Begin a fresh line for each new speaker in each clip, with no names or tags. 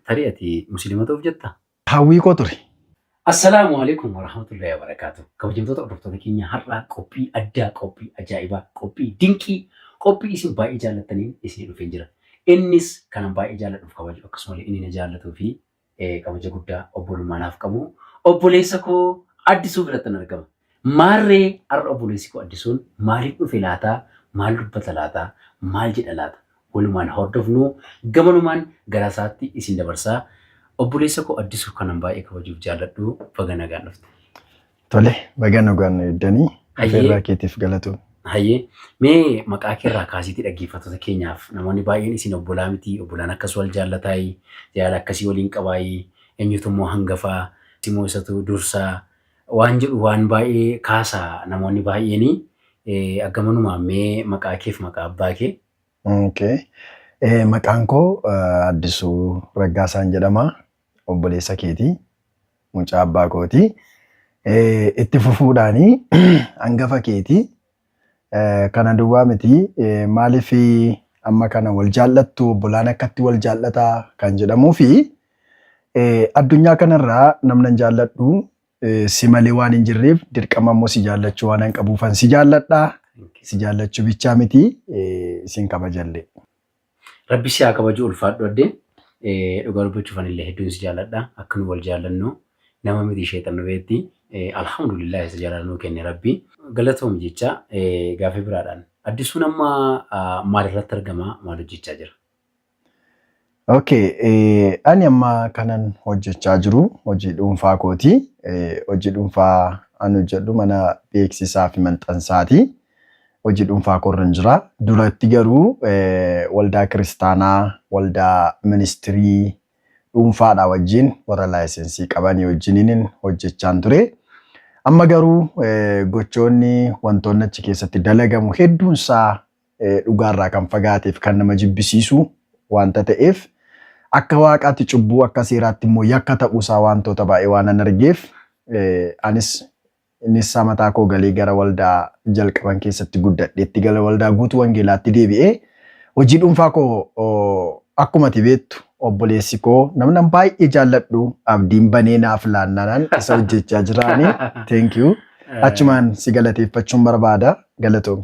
Tarii ati musliima ta'uuf jettaa? Hawwii koo ture.
Assalaamu
Aleeykum Warahmatullahi Wabarakaatu Kabajamtoota hordoftoota keenya har'aa qophii addaa qophii ajaa'ibaa qophii dinqii qophii isin baay'ee jaallattaniin isinii dhufeen jira innis kanan baay'ee jaalladhuuf kabaju akkasumallee inni na jaallatuu fi kabaja guddaa obbolummaa naaf qabu obboleessa koo addisuu birattan argama Maarree har'a obboleessi koo Addisuun maaliif dhufe laata? Maal dubbata laata? Maal jedha laata? Walumaan haa hordofnu. Gamanumaan gara isaatti isin dabarsa. Obboleessa koo Addisuu kanan baay'ee kabajuuf jaalladhu baga nagaan dhufte. Tole,
baga nagaan nu eegdanii. Hayyee. Afeerraa keetiif galatoomi. Hayyee,
mee maqaa kee irraa kaasiitii dhaggeeffattoota keenyaaf namoonni baay'een isin obbolaa miti, obbolaan akkas wal jaallataayi, jaalala akkasii waliin qabaayi, eenyutu immoo hangafaa, eenyutu immoo isatu dursaa, waan jedhu waan baay'ee kaasa namoonni baay'eeni. Aggamanumaan mee maqaa keef maqaa abbaa kee. Okay.
Maqaan koo Addisuu Raggaasaan jedhama. Obboleessa keeti. Mucaa abbaa kooti. Itti fufuudhaani hangafa keeti. Kana duwwaa miti maaliif amma kana wal jaallattu obbolaan akkatti wal jaallata kan jedhamuufi addunyaa kanarraa namnan jaalladhu si malee waan hin jirreef dirqama immoo si jaallachuu waanan qabuufan si jaalladha. Si jaallachuu bichaa miti sin kabajallee. Rabbi
si haa kabaju ulfaadhu adde dhugaa dubbachuuf anillee hedduun si jaaladha akka nu wal jaallannu nama miti sheexan nu beetti alhamdulillah isa jaalala nuu kenne rabbi galatoomi jecha gaafii biraadhaan addisuun amma maalirratti argama maal hojjechaa jira? Okay,
eh, ani amma kanan hojjechaa jiru hojii dhuunfaa kooti. Eh, hojii dhuunfaa an hojjedhu mana beeksisaa fi maxxansaati. hojii dhuunfaa koorran jira. Duratti garuu waldaa kiristaanaa, waldaa ministirii dhuunfaadhaa wajjin warra laayisensii qabanii wajjiniin hojjechaan ture. Amma garuu gochoonni wantoonni achi keessatti dalagamu hedduunsaa dhugaarraa kan fagaateef kan nama jibbisiisu wanta ta'eef akka waaqaatti cubbuu akka seeraatti immoo yakka ta'uusaa wantoota baay'ee waan an argeef anis Innis mataa koo galee gara waldaa jalqaban keessatti guddadheetti gala waldaa guutuu wangeelaatti deebi'ee hojii dhuunfaa koo akkuma ati beektu obboleessi koo namnan baay'ee jaalladhu abdiin banee naaf laannaanaan isa hojjechaa jiraanii thank you achumaan si galateeffachuun barbaada galatoomi.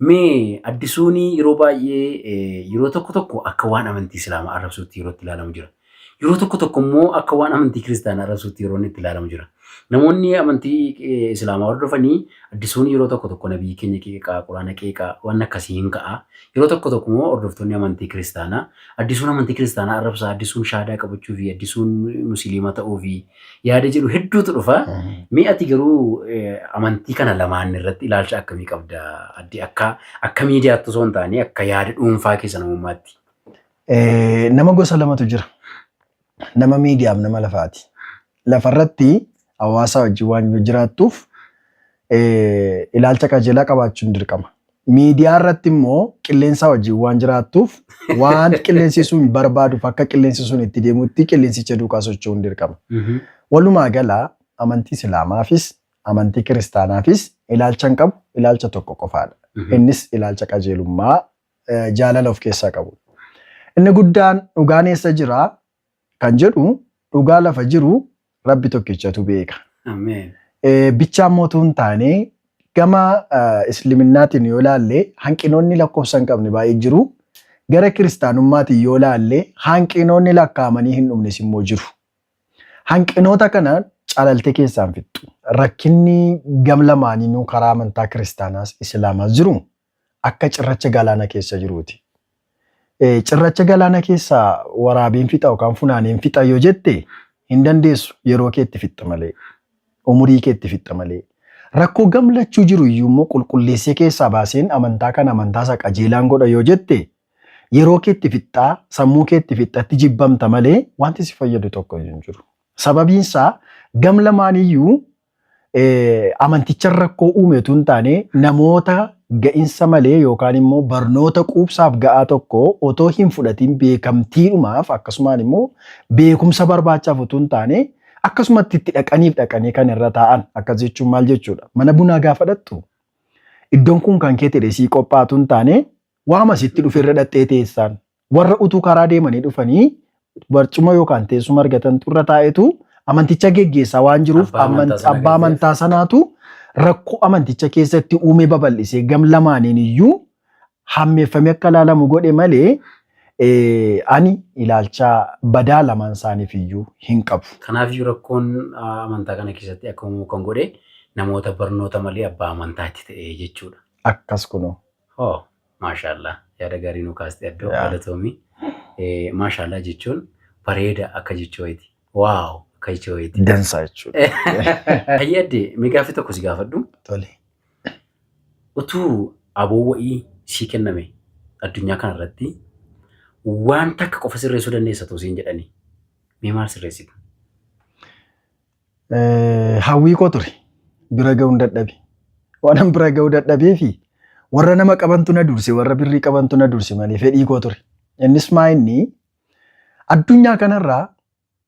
Mee addisuuni yeroo baay'ee yeroo tokko tokko akka waan amantii islaamaa arrabsuutti yeroo itti ilaalamu jira. Yeroo tokko tokko immoo akka waan amantii kiristaanaa arrabsuutti yeroo inni itti ilaalamu jira. Namoonni amantii eh, islaamaa hordofanii addisuun yeroo tokko tokko nabiyyi keenya qeeqaa, quraana qeeqaa, waan akkasii hin ka'a. Yeroo tokko tokko immoo hordoftoonni amantii kiristaanaa addisuun amantii kiristaanaa arrabsaa, addisuun shaadaa qabachuu fi addisuun musiliima ta'uu fi yaada jedhu hedduutu dhufa. Mee ati garuu eh, amantii kana lamaan irratti ilaalcha akkamii qabda? Addi akka akka miidiyaatti osoo hin taane akka yaada dhuunfaa keessa namummaatti. Eh,
nama gosa lamatu jira. Nama miidiyaaf nama lafaati. Lafarratti hawaasaa wajjin waan yoo jiraattuuf eh, ilaalcha qajeelaa qabaachuun dirqama. Miidiyaa irratti immoo qilleensaa wajjin waan jiraattuuf waan qilleensi sun barbaaduuf akka qilleensi sun itti deemutti qilleensicha duukaa socho'uun dirqama. Walumaa gala amantii Islaamaafis amantii Kiristaanaafis ilaalchan qabu ilaalcha tokko qofaadha. Innis ilaalcha qajeelummaa eh, jaalala of keessaa qabudha. Inni guddaan dhugaan eessa jira kan jedhu dhugaa lafa jiru rabbi tokkichatu beeka. Ameen.
Eh, bichaan
mootuu hin taane gama eh, isliminnaatiin yoo laalle hanqinoonni lakkoofsa hin qabne baay'ee jiru. Gara kiristaanummaatiin yoo laalle hanqinoonni lakkaa'amanii hin dhumnes immoo jiru. Hanqinoota kana calaltee keessaan fixxu. Rakkinni gam lamaaniinuu karaa amantaa kiristaanaas islaamaas jiru. akka cirracha galaana keessa jiruuti. Cirracha galaana keessa waraabiin fixa yookaan funaaniin fixa yoo jette hin dandeessu yeroo keetti fixxa malee umurii keetti fixxa malee rakkoo gamlachuu jiru iyyuu immoo qulqulleessee keessaa baaseen amantaa kana amantaa isaa qajeelaan godha yoo jette yeroo keetti fixxaa sammuu keetti fixxatti jibbamta malee wanti si fayyadu tokko iyyuu hin jiru. Sababiin isaa gam lamaaniyyuu amantichan rakkoo uume utuu hin taane namoota ga'insa malee yookaan immoo barnoota quubsaaf ga'aa tokko otoo hin fudhatiin beekamtiidhumaaf akkasumaan immoo beekumsa barbaachaaf utuu hin taane akkasumatti itti dhaqaniif dhaqanii kan irra taa'an akkas jechuun maal jechuudha mana bunaa gaafa dhaqxu iddoon kun kan kee ta'e sii qophaatu hin taane waama sitti dhufe irra dhaqxee teessaan Warra utuu karaa deemanii dhufanii barcuma yookaan teessuma argatantu irra taa'etu amanticha geggeessaa waan jiruuf Abbaa aman- amantaa sana abbaa kan ta'e. amantaa sanaatu rakkoo amanticha keessatti uumee babal'isee gam lamaaniin iyyuu hammeeffamee akka ilaalamu godhe malee eh, ani ilaalcha badaa lamaan isaaniif iyyuu hin qabu. Kanaaf iyyuu rakkoon
ah, amantaa kana keessatti akka uumamu kan godhe namoota barnoota malee abbaa amantaatti ta'e jechuudha. Akkas kunoo.
Hoo
Maashaallah yaada gaarii nuu kaaste addoo Yaa. galatoomi. Eh, Maashaallah jechuun bareeda akka jechuu wayiiti. Waaw akka jechuu wayiiti. Dansaa
jechuudha. Hayyee addee
mee gaaffii tokko si gaafadhu. Tole. Utuu aboo wa'ii sii kenname addunyaa kana irratti waan takka qofa sirreessuu dandeessa too siin jedhanii mee maal sirreessita?
eh, hawwii koo ture bira ga'uun dadhabe waanan bira ga'uu dadhabee fi warra nama qabantu na durse warra birrii qabantu na durse malee fedhii koo ture innis maa inni addunyaa kanarraa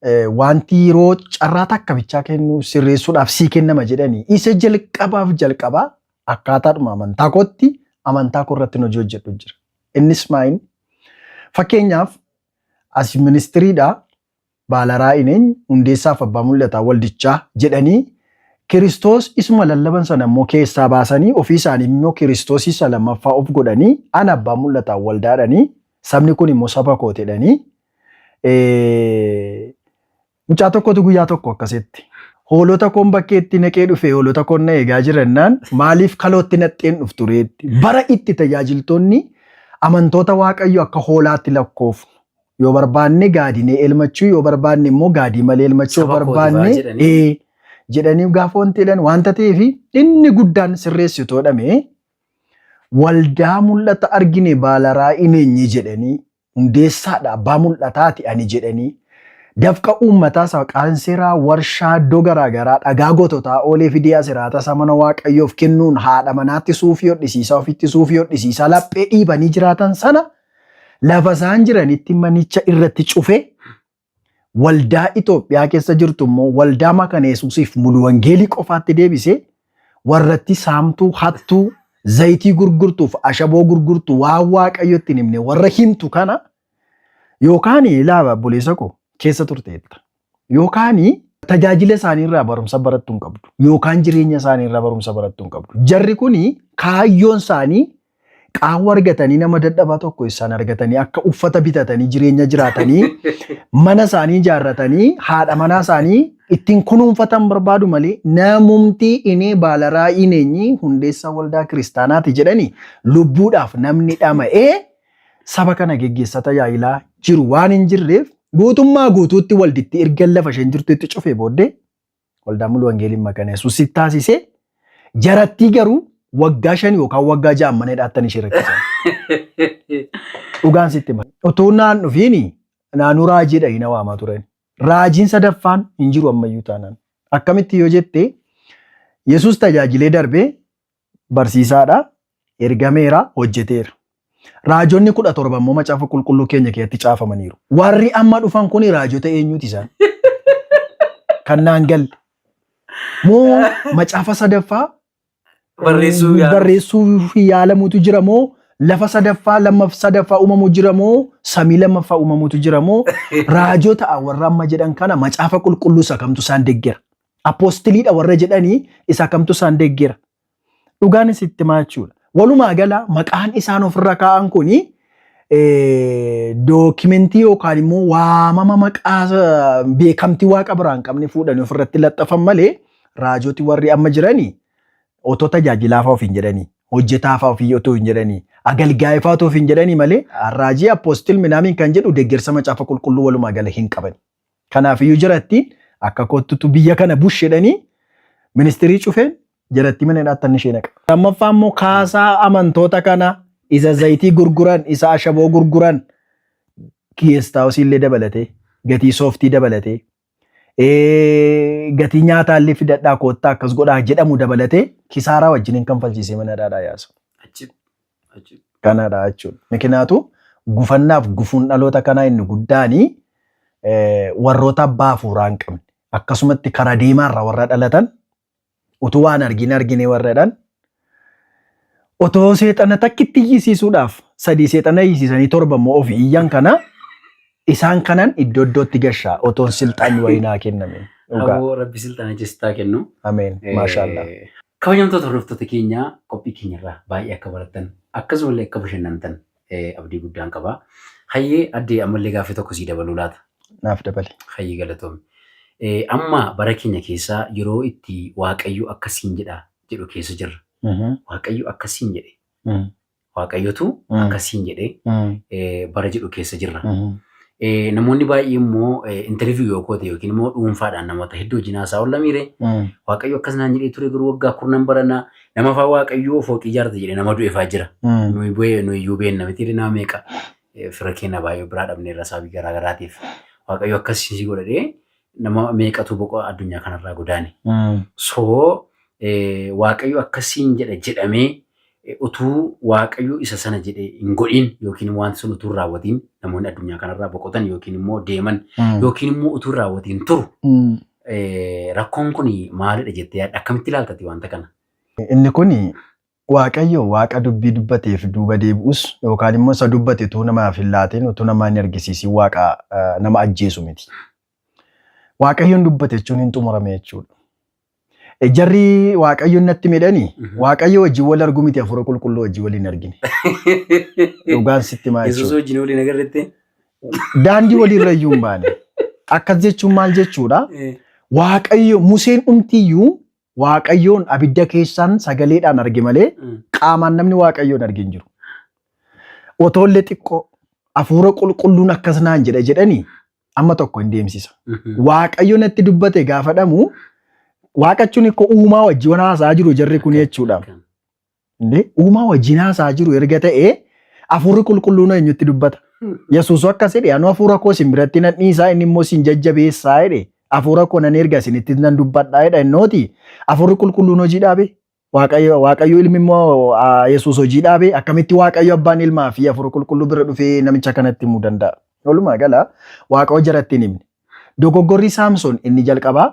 eh, wanti yeroo carraa takka bichaa kennu sirreessuudhaaf sii kennama jedhanii isa jalqabaaf jalqabaa akkaataadhuma amantaa kootti amantaa koo irratti hojii hojjedhu jira innis maa inni fakkeenyaaf as ministiriidha Baala Raa'in eenyu? Hundeessaaf Abbaa Mul'ataa Waldichaa jedhanii Kiristoos isuma lallaban sana immoo keessaa baasanii ofii isaanii immoo Kiristoos isa lammaffaa of godhanii ana Abbaa Mul'ataa Waldaadhanii sabni kun immoo saba kootedhanii mucaa tokkotu guyyaa tokko akkasitti hoolota koon bakkeetti naqee dhufee hoolota koon na eegaa jirannaan maaliif kalootti naqxeen dhuftu reetti bara itti tajaajiltoonni amantoota waaqayyo akka hoolaatti lakkoofnu Yoo barbaanne gaadinee elmachuu yoo barbaanne immoo gaadii malee elmachuu yoo Saba kooti ba'a barbaanne jedhanii. ee, jedhanii gaafa wanti jedhan wanta ta'eef inni guddaan sirreessitoo dhamee waldaa mul'ata argine baala raa'ii meenyii jedhanii hundeessaadha abbaa mul'ataati ani jedhanii dafqa uummataa isaa qaanseeraa warshaa iddoo garaagaraa dhagaa gototaa oolee fidee asiraata isaa mana waaqayyoof kennuun haadha manaatti suufii hodhisiisaa ofitti suufii hodhisiisaa laphee dhiibanii jiraatan sana Lafa isaan jiranitti manicha irratti cufe waldaa Itoophiyaa keessa jirtu immoo waldaa makana Yesuusiif mulu wangeelii qofaatti deebisee warratti saamtuu, hattuu, zayitii gurgurtuuf ashaboo gurgurtu waan waaqayyo ittiin himne warra himtu kana yookaan ilaaba buleessa koo keessa turteetta. Yookaan tajaajila isaanii irraa barumsa barattu hin qabdu. Yookaan jireenya isaanii irraa barumsa barattu hin qabdu. Jarri kun kaayyoon isaanii qaawwa argatanii nama dadhabaa tokko isaan argatanii akka uffata bitatanii jireenya jiraatanii mana isaanii ijaarratanii haadha manaa isaanii ittiin kunuunfatan barbaadu malee namumti inee baalaraa ineenyi hundeessaa waldaa kiristaanaati jedhanii lubbuudhaaf namni dhama'ee saba kana geggeessata yaa'ilaa jiru waan hin jirreef guutummaa guutuutti walditti erga lafa isheen jirtutti cufee booddee waldaa mulu wangeeliin maqana yesuusitti taasisee jarattii garuu waggaa shan yookaan waggaa ja'an mana hidhaattan ishee rakkisan. Dhugaan sitti hima. Utuu naan dhufiini naannoo raajii dhahii na waamaa turan. Raajiin sadaffaan hin jiru ammayyuu taanaan. Akkamitti yoo jette Yesuus tajaajilee darbee Barsiisaadha, ergameera, hojjeteera. Raajonni kudha torba immoo macaafa qulqulluu keenya keessatti caafamaniiru. Warri amma dhufan kun raajota eenyuuti isaan? Kan naan galle. Moo macaafa sadaffaa Barreessuu yaala. barreessuuf yaalamutu jira moo lafa sadaffaa lammaf sadaffaa uumamu jira moo samii lammaffaa uumamutu jira moo raajota warra amma jedhan kana macaafa qulqulluu isa kamtu isaan deggera Apoostiliidha warra jedhanii isa kamtu isaan deeggera? Dhugaan isin itti himaa jechuudha. Walumaa gala maqaan isaan ofirra kaa'an kun dookimentii yookaan immoo waamama maqaa eh, beekamtii waaqa biraa hin qabne fuudhanii ofirratti laxxafan malee raajoti warri amma jiranii otoo tajaajilaafaa ofiin jedhanii hojjetaafaa ofii otoo hin jedhanii agalgaa'eefaa otoo ofiin jedhanii malee raajii apoostil minaamiin kan jedhu deeggarsa macaafa qulqulluu walumaa gala hin qaban. Kanaafiyyuu jarattiin akka kottutu biyya kana bush jedhanii ministirii cufeen jarattii mana hidhaatti anni ishee naqa. Lammaffaa immoo kaasaa amantoota kana isa zayitii gurguran, isa ashaboo gurguran geestaawusii illee dabalatee, gatii sooftii dabalatee, gatii nyaataa illee fidadhaa koottaa akkas godhaa jedhamu dabalatee kisaaraa wajjiniin kanfalchiisee mana hidhaadhaa yaasa. Kanadha jechuudha. Mikinaatu gufannaaf gufuun dhaloota kanaa inni guddaani warroota abbaa hafuuraa hin qabne. Akkasumatti kara deemaarra warra dhalatan utuu waan argin argine warradhan otoo seexana takkitti iyyisiisuudhaaf sadii seexana iyyisiisanii torba immoo ofi iyyan kana Isaan kanan iddoo iddootti gashaa otoon silxaanni wayii naa kenname. Dhugaa. Aboo rabbi
silxana jessitaa kennu. Ameen. Maashaallah.
Eh, Kabajamtoota
hordoftoota keenya qophii keenyarraa baay'ee akka barattan akkasumallee akka bashannantan eh, abdii guddaan qaba. Hayyee addee ammallee gaaffii tokko sii dabaluu laata? Naaf dabali.
Hayyee galatoomi.
Eh, Amma bara keenya keessaa yeroo itti Waaqayyo akkasiin jedha jedhu keessa jirra. Mhm. Waaqayyo akkasiin jedhe Mhm. Waaqayyotu akkas siin jedhee bara jedhu keessa jirra. Namoonni baay'ee immoo intarviyu yoo goote yookiin immoo dhuunfaadhaan namoota hedduu wajjin haasaa oolla miire waaqayyo akkas naan jedhee ture garuu waggaa kurnan barana nama afaa waaqayyoo fooqii ijaarta jedhee nama du'eefaa jira. Nuyi bu'ee nuyi iyyuu beenna miti nama meeqa fira keenya baay'ee biraa dhabneerra sababii garaa garaatiif waaqayyo akkas si godhadhee Nama meeqatu boqoo addunyaa kanarraa godaane. So Waaqayyo akkas siin jedha jedhamee utuu Waaqayyo isa sana jedhe hin godhin yookiin wanti sun utuu hin raawwatiin namoonni addunyaa kanarraa boqotan yookiin immoo deeman yookiin immoo utuu hin raawwatiin turu. Rakkoon kun maalidha jettee yaadda? Akkamitti ilaaltati wanta kana? Inni kun
Waaqayyo Waaqa dubbii dubbateef duuba deebi'us yookaan immoo isa dubbate utuu namaaf hin laatiin, utuu namaa hin argisiisiin Waaqa nama ajjeesu miti. Waaqayyoon dubbate jechuun hin xumurame jechuudha. E, Jarri Waaqayyoon natti midhani Waaqayyo wajjin wal argu miti hafuura qulqulluu wajjin wal hin argine. Dhugaan sitti maa Yesuus jechuudha. wajjin waliin agarretti.
Daandii
waliirra iyyuu hin baane. Akkas jechuun maal jechuudha? Waaqayyo Museen dhumtiyyuu Waaqayyoon abidda keessaan sagaleedhaan arge malee Mm. qaamaan namni waaqayyoon arge hin jiru. Otoollee xiqqoo hafuura qulqulluun akkas naan jedha jedhanii amma tokko hin deemsisa. Mhm. Waaqayyo natti dubbate gaafadhamu waaqachuun koo uumaa wajjin waan haasaa jiru jarri kun jechuudha. Kan. Indee uumaa wajjin haasaa jiru erga ta'ee hafuurri qulqulluun eenyutti dubbata. Yesuus akkas jedhe anuu hafuura koo isin biratti nan dhiisaa inni immoo isin jajjabeessaa jedhe hafuura koo nan erga isinitti nan dubbadhaa jedha innooti hafuurri qulqulluun hojii dhaabe waaqayyo waaqayyo ilmi immoo ah, Yesuus hojii dhaabe akkamitti waaqayyo abbaan ilmaa fi hafuura qulqulluu bira dhufee namicha kanatti himuu danda'a. Walumaa gala waaqa hojjaratti hin himne. Dogoggorri Saamsoon inni jalqabaa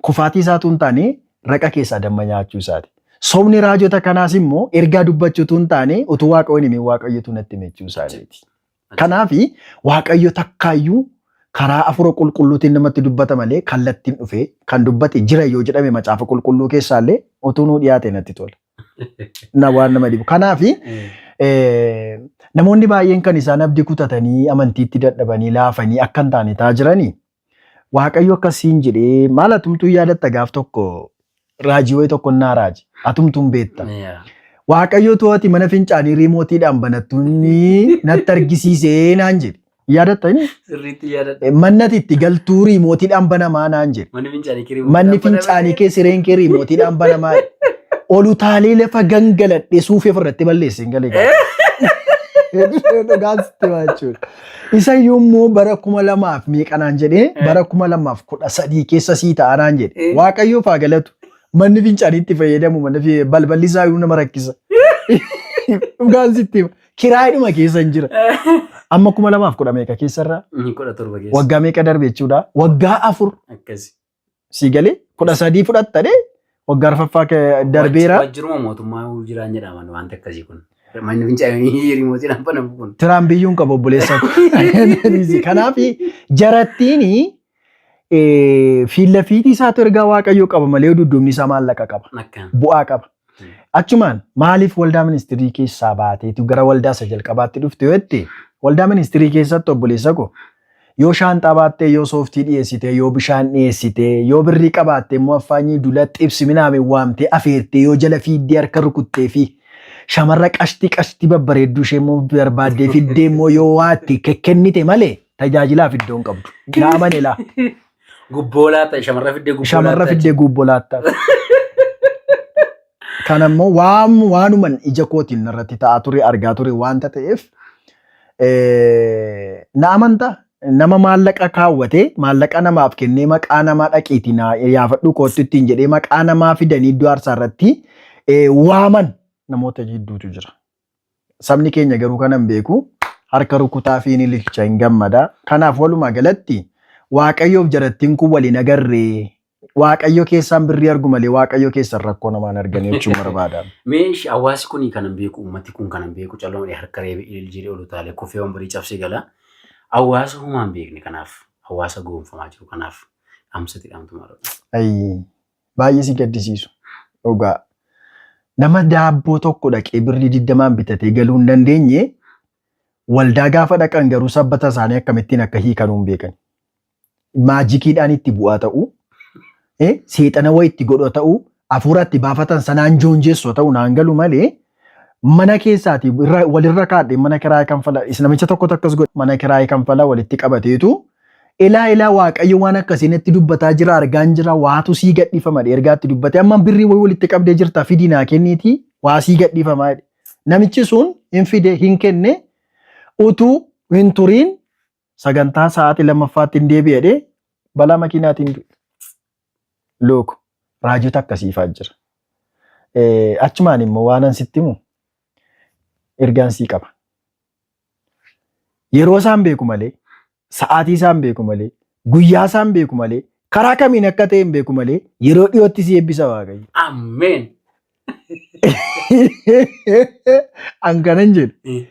kufaatii isaa utuu hin taane raqa keessaa damma nyaachuu isaati. Sobni raajota kanaas immoo ergaa dubbachuu utuu hin taane utuu Waaqayyo hin himin Waaqayyotu natti hime jechuu isaaniiti. Kanaaf Waaqayyo takkaayyuu karaa hafuura qulqulluutiin namatti dubbata malee kallattiin dhufee kan dubbate jira yoo jedhame macaafa qulqulluu keessaallee utuu nuu dhiyaate natti tola. na waan nama dhibu. Kanaaf eh, namoonni baay'een kan isaan abdii kutatanii amantiitti dadhabanii laafanii akka hin taane ta'aa jiranii waaqayyo akkasiin jedhee maal atumtuu yaadatta gaaf tokko raajii wayii tokko naa raaji atumtuun beetta. Yeah. Waaqayyo to'ati mana fincaanii riimootiidhaan banattuun natti argisiisee naan jedhe. Yaadatta inni Sirriitti yaadadha.
mannati itti galtuu
riimootiidhaan banamaa naan jedhe. Manni fincaanii kirii. Manni fincaanii kee sireen kee riimootiidhaan banamaa jedhe. Ol utaalee lafa gangaladhe suufee ofirratti balleesse hin galee. Dhugaan sitti himaa jechuudha. Isa iyyuu immoo bara kuma lamaaf meeqa naan jedhee bara kuma lamaaf kudha sadii keessa sii ta'a naan jedhe. Eh. Waaqayyoof haa galatu. Manni fincaanii itti fayyadamu manni fi- balballi isaa iyyuu nama rakkisa. Dhugaan sitti hima. Kiraayidhuma keessan jira. Amma kuma lamaaf kudha meeqa keessarraa? Inni kudha torba keessa. Waggaa
meeqa darbe jechuudha?
Waggaa afur Akkasi.
sii galee
kudha sadii fudhatta dee waggaa arfaffaa kee darbeera. Waajjiruma mootummaa
jiraan jedhaman wanta akkasii kun. Manni fincaanii rimootiidhaan banamu kun. Tiraan biyyuun qaba obboleessa.
Kanaaf jarattiin Eh, Fiilla fiixii isaatu ergaa waaqayyoo qaba malee yoo dudduubni isaa maallaqa qaba. Akka. Bu'aa qaba. Achumaan maaliif waldaa ministirii keessaa baateetu gara waldaa isa jalqabaatti dhufte yoo jette waldaa ministirii keessatti obboleessa koo yoo shaanxaa baattee yoo sooftii dhiyeessitee yoo bishaan dhiyeessitee yoo birrii qabaattee immoo affaanyii dula xibsi minaamee waamtee afeertee yoo jala fiiddee harka rukuttee fi shamarra qashtii qashtii babbareedduu ishee immoo barbaaddee fiddee immoo yoo waatte kekkennite malee Tajaajilaaf iddoo hin qabdu. Yaa amane laa. Gubboo
laata shamarra fiddee gubboo Shamarra laata. fiddee guubboo laattaaf.
Kan ammoo waan waanuman ija kootiin irratti ta'aa ture argaa ture waanta ta'eef eh, na amanta nama maallaqa kaawwatee maallaqa namaaf kennee maqaa namaa dhaqiitii na yaafadhuu kootti ittiin jedhee maqaa namaa fidanii iddoo aarsaa irratti eh, waaman namoota hedduutu jira. Sabni keenya garuu kana hin beeku. Harka rukutaafi hin ililcha, hin gammada. Kanaaf walumaa galatti Waaqayyoof jarattiin kun wal hin agarre. Waaqayyo keessaan birrii argu malee Waaqayyo keessan rakkoo namaa hin argani jechuun barbaada. Mee ishi hawaasi
kuni kana hin beeku, ummati kun kana hin beeku, callo malee harka reebe, ilil jedhe, ol utaalee, kufee wambarii cabsee gala. Hawaasa homaa hin beekne kanaaf, hawaasa goonfamaa jiru kanaaf dhaamsati dhaamtu maal? Ayi
Baay'ee si gaddisiisu dhugaa. Nama daabboo tokko dhaqee birrii digdamaan bitatee galuu hin dandeenye waldaa gaafa dhaqan garuu sabbata isaanii akkamittiin akka hiikanuu hin beekan. Maajikiidhaan itti bu'aa ta'u, eh, seexana wayii itti godhu ta'u, hafuura itti baafatan sanaan joonjeessu ta'u naan galu malee mana keessaati irra- walirra kaadhe mana kiraayee kanfala is namicha tokkotu akkas godhe mana kiraayee kanfala walitti qabateetu ilaa ilaa waaqayyo waan akkasii natti dubbataa jira argaan jira waatu sii gadhiifama jedhe ergaatti dubbate amma birrii wayii walitti qabdee jirta fidii naa kenniitii waa sii gadhiifamaa jedhe namichi sun hin fide hin kenne utuu hin turiin sagantaa sa'aatii lammaffaatti hin deebi'e jedhee balaa makiinaatiin du'e. Look, raajota akkasiifaa jira. Eh, Achumaan immoo waanan sitti himu ergaan sii qaba. Yeroo isaan beeku malee, sa'aatii isaan beeku malee, guyyaa isaan beeku malee, karaa kamiin akka ta'e hin beeku malee, yeroo dhiyootti si eebbisa Waaqayyo. Ameen. An kanan jedhu Eh,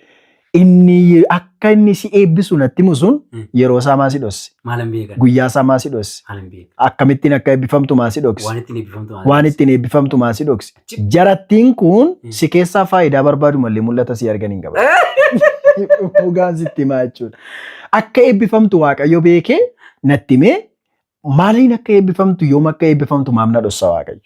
inni akka inni si eebbisu natti himu sun Mm. yeroo isaa maa si dhosse Maalan beekan. guyyaa
isaa maa si dhosse
Maalan beekan. akkamittiin
akka eebbifamtu
maa si dhokse Waan ittiin eebbifamtu maalan waan beekan. ittiin
eebbifamtu maa si dhokse
Achi- jarattiin kun Mm. si keessaa faayidaa barbaadu malee mul'ata si argan hin qaban. Dhugaan sitti himaa jechuudha. Akka eebbifamtu waaqayyo beekee natti himee maaliin akka eebbifamtu yoom akka eebbifamtu maamna dhossa waaqayyo.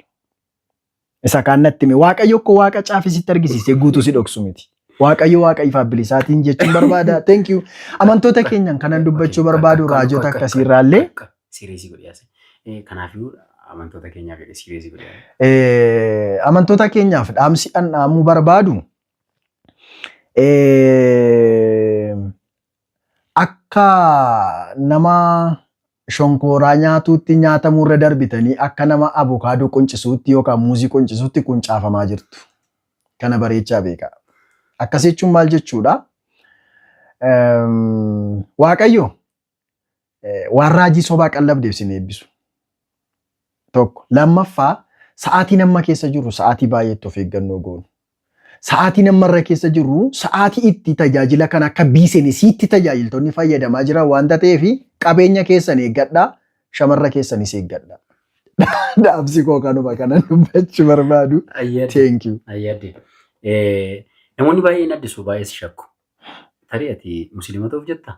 Isa kaan natti hime. Waaqayyo koo waaqa caafee sitti argisiisee guutuu si dhoksu miti. Waaqayyo waaqa ifaaf bilisaatiin jechuun barbaada. Thank you. Amantoota keenyaan kanan dubbachuu barbaadu raajota akkasii irraallee Siiriisii godhee
as. Kanaafuu amantoota keenyaaf jedhee siiriisii godhee. Eh, amantoota keenyaaf
dhaamsi an dhaamuu barbaadu eh, akka nama Shonkooraa nyaatuutti nyaatamuurra darbitanii akka nama avokaadoo quncisuutti yookaan muuzii quncisuutti quncaafamaa jirtu. Kana bareechaa beekaa. Akkas jechuun maal jechuudha? Waaqayyo waan raajii sobaa qallabdeef sin eebbisu. 1. Lammaffaa, sa'aatiin amma keessa jirru sa'aatii baay'ee itti of eeggannoo goonu. Sa'aatiin amma irra keessa jirru sa'aatii itti tajaajila kana akka biisenisiitti tajaajiltoonni fayyadamaa jiran waan ta'eef qabeenya keessan eeggadhaa, shamarra keessanis eeggadhaa. Dhaamsi koo kanuma kana dubbachuu barbaadu. Ayyadde. Thank you. Ayyadde. Eh, Namoonni
baay'een addisu baay'ee si shakku. Tarii ati musliima ta'uuf jetta?